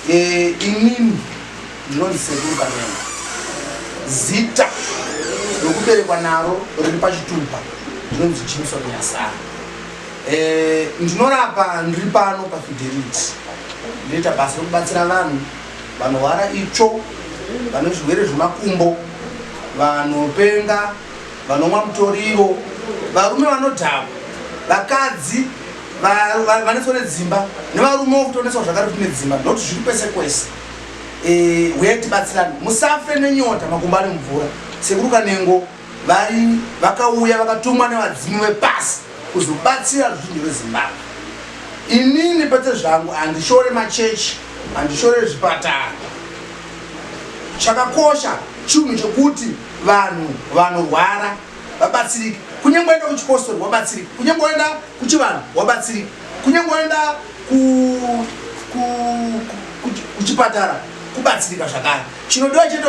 Eh, inini ndinonzi sekuru kanenga zita rokuberekwa naro riri pachitupa ndinonzi jimson nyasara eh, ndinorapa ndiri pano pafidelity ndinoita basa rokubatsira vanhu vanorwara itsvo vane zvirwere zvemakumbo vanopenga vanomwa mutoriro varume vanodhakwa vakadzi vanetswa nedzimba nevarume wo kutonetswa zvakare kuti nedzimba not zviri kwese kwese eh, huye tibatsirane musafe nenyota makumba ari mvura sekuru kanengo vari vakauya vakatumwa nevadzimu vepasi kuzobatsira ruzhinji rwezimbabwe inini pete zvangu handishore machechi handishore zvipatara chakakosha chinhu chekuti vanhu vanorwara vabatsirike kunyange waenda kuchipostori wabatsirike kunyange waenda kuchivanhu wabatsirike kunyange waenda kuchipatara kubatsirika zvakare chinodiwa chete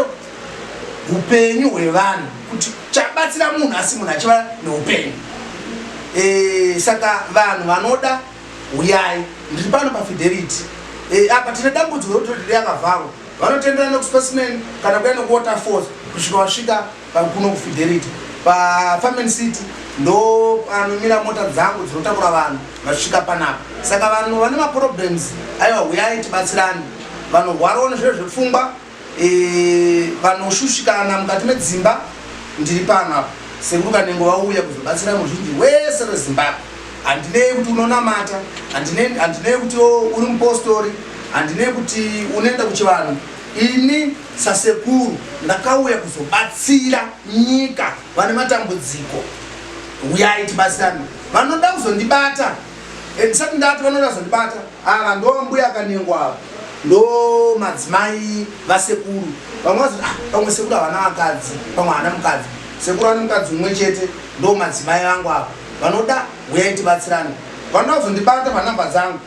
upenyu hwevanhu kuti chabatsira munhu asi munhu achiva neupenyu eh, saka vanhu vanoda huyai ndiri pano pafidelity eh, apa tine dambudziko rokuti riri yakavharwa vanotenderana nekuspecimen kana kuya nekuwaterfalls kusvika vasvika Kuno kufidelity pafarmen city ndo panomira mota dzangu dzinotakura vanhu vasvika panapa saka vanhu vane maproblems aiwa huyai tibatsirani vanorwarawo nezviro zvepfungwa e, vanoshushikana mukati medzimba ndiri pano apa sekuru kanengo vauya kuzobatsira muzhinji wese rezimbabwe handinei kuti unonamata handinei kuti uri mupostori handinei kuti unoenda kuchivanhu ini Sasekuru ndakauya kuzobatsira nyika vane matambudziko huyai tibatsirane vanoda kuzondibata and sati ndati vanoda kuzondibata ava ndo mbuya akanengwa ava ndo madzimai vasekuru vamwe vazoti ah, pamwe sekuru havana vakadzi pamwe havana mukadzi sekuru vane mukadzi umwe chete ndo madzimai vangu ava vanoda huyai tibatsirane vanoda kuzondibata panhamba dzangu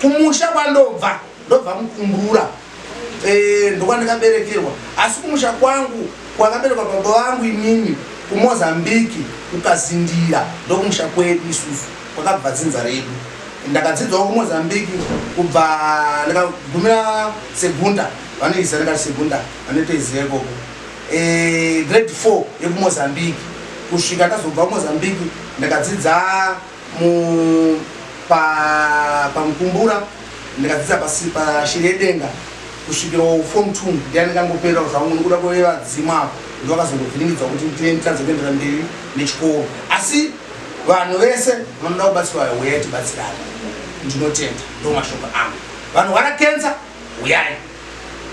kumusha kwandobva ndobva mukumbura e, eh, ndokwandikaberekerwa asi kumusha kwangu kwakaberekwa baba vangu imimi kumozambiki kukazindira ndokumusha kwedu isusu kwakabva dzinza redu ndakadzidzwawo kumozambiki kubva ndikagumira segunda vanoiziva ndikati segunda vanotoiziva ikoko eh, grade four yekumozambiki kusvika ndazobva kumozambiki ndakadzidza mu pa pamukumbura ndikadzidza pasi pashiri yedenga kusvikira form two ndiyandikangoperera zvangu nokuda kwevadzimu apo ndovakazongovhiringidzwa kuti nditadze kuendera mberi nechikoro asi vanhu vese vanoda kubatsirwa huyai tibatsirane ndinotenda ndo mashoko angu vanorwara kensa huyai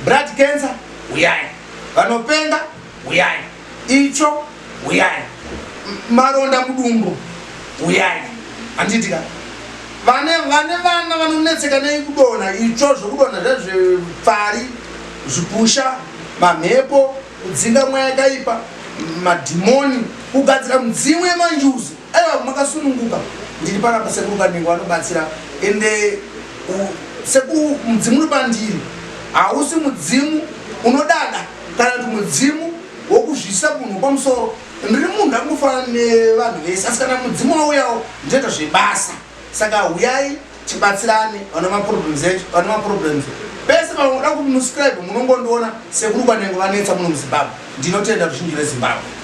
brad kensa huyai vanopenga huyai Itsvo huyai. Maronda mudumbu huyai. Handitika. Vane vane vana vanonetseka nei kudona itsvo zvokudona zvezvepfari zvipusha mamhepo kudzinga mweya yakaipa madhimoni kugadzira mudzimu yemanjuzi aiwa makasununguka ndiri pana pasekuru kanengo anobatsira ende sekuru mudzimu uri pandiri hausi mudzimu unodada kana kuti mudzimu wokuzvisa munhu kwamusoro ndiri munhu akungofanana nevanhu vese asi kana mudzimu wauyawo ndinoita zvebasa saka huyai tibatsirane vane maproblems echo vane maproblems pese panoda kumuscribe munongondiona sekuru kwanenge vanetsa muno muzimbabwe ndinotenda ruzhinji rezimbabwe